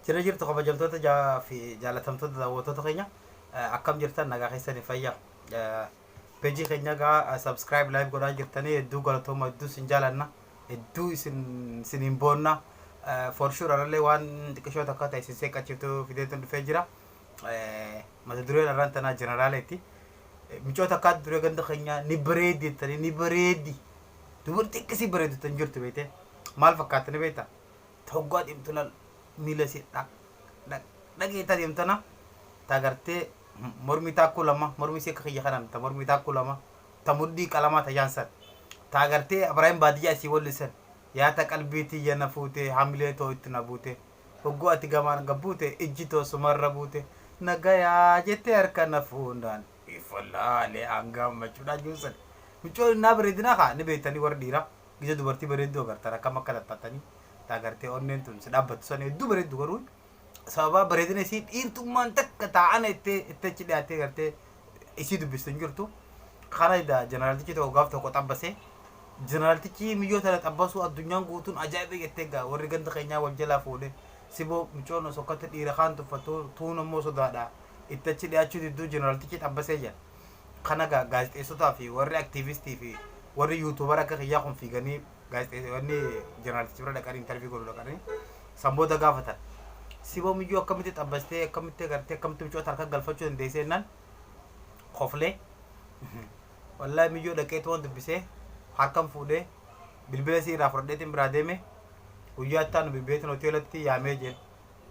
Jirra jirtu kabajamtoota ja- fi jaalatamtoota daawwattoota keenya Eh, akkam jirtan nagaa keessanii fayya Eh, pejii keenya egaa subscribe live godhaa jirtanii hedduu galatooma hedduu isin jaalanna hedduu isin isin hin boonna Eh, for sure anallee waan xiqqishoo takka ta'e isin seeqqachiiftu fideetuun dhufee jira Eh, mata dureen arraan tanaa jeneraaleeti Eh, micoota akka adda duree ganda keenyaa ni bareedi jettanii ni bareedi dubartii akkasii bareedu tan jirtu beekte maal fakkaatanii beekta ta hoggaa deemtu lal miila isii dhaq dhaq dhaqii ta deemtu tana ta gartee mormi taakkuu lama mormi isii akka kiyya kanan ta mormi taakkuu lama ta mudhii qalamaa ta jaan san ta gartee abaraayim baadiyyaa isii walli san yaa ta qalbii tiyya na fuute hamilee too itti na buute hogguu ati gamaan gabbuute ijji too sumarra buute nagayaa jettee harka na fuundaan ifallaalee an gammachuudhaan juusan micoon innaa bareedinaa kaa ni beektanii warri dhiiraa gita dubartii bareedduu agartan akkam akka tattattanii ta agartee onneen tun si dhaabbattu san hedduu bareeddu garuu sababaa bareedina isii dhiirtummaan takka taa'ana ittee itti achi dhiyaattee gartee isii dubbistu hin jirtu kana ida jeneraaltichi tokko gaaf tokko xabbasee jeneraaltichi miyyoo tana xabbasuu addunyaan guutuun ajaa'iba jettee gaa warri ganda keenyaa wal jalaa fuudhe siboo micoon osoo akkatti dhiira kaan tuffattu tuun ammoo sodaadha itti achi dhiyaachuu didduu jeneraaltichi xabbasee jedha Kana gaa gaazexeessotaa fi warri aktiivistii fi warri yuutuubara akka kiyyaa kun fiiganii gaazexeessonni jeneraalichi bira dhaqanii intarvii godhu dhaqanii san booda gaafatan. Siboo miyyuu akkamitti xabbastee akkamitti agartee akkamitti mucoota harka galfachuu dandeessee jennaan koflee wallaahi miyyoo dhaqee tuwan dubbisee harkan fuudhee bilbila isii irraa fudhadheetiin biraa deeme guyyaa itti aanu bilbileetiin hoteelatti yaamee jeen.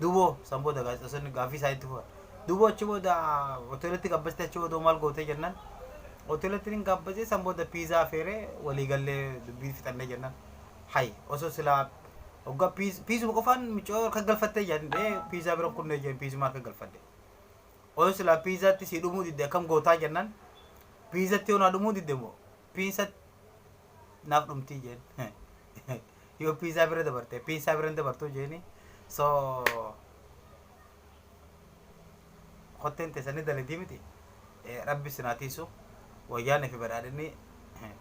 Duuboo, San booda gaazexeessonni gaaffii isaanii itti fufan. Duuboo achi booda hoteelatti gabbastee achi booda maal gootee jennaan hoteelatti nin gaabbasee san booda piizaa feeree walii gallee dubbii fixannee jennaan hay osoo silaa hoggaa piiz- piizuma qofaan micoo harka galfattee jaan ee piizaa biran kunnee jeen piizuma harka galfadhe. Osoo silaa piizaatti sii dhumuu didde akkam gootaa jennaan piizatti yoo naa dhumuu didde moo piisa naaf dhumtii jeen yoo piisaa bira dabarte piisaa bira hin dabartuu jeeni so kotteen teessanii daladii miti Eh, rabbi isin haa tiisu wayyaanee fi badhaadhinni eh,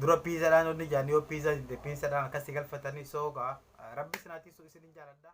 dura piisaadhaan onni jaan yoo piisaa didde piisaadhaan akkasii galfatanii soogaa rabbi isin haa tiisu isin hin jaaladha.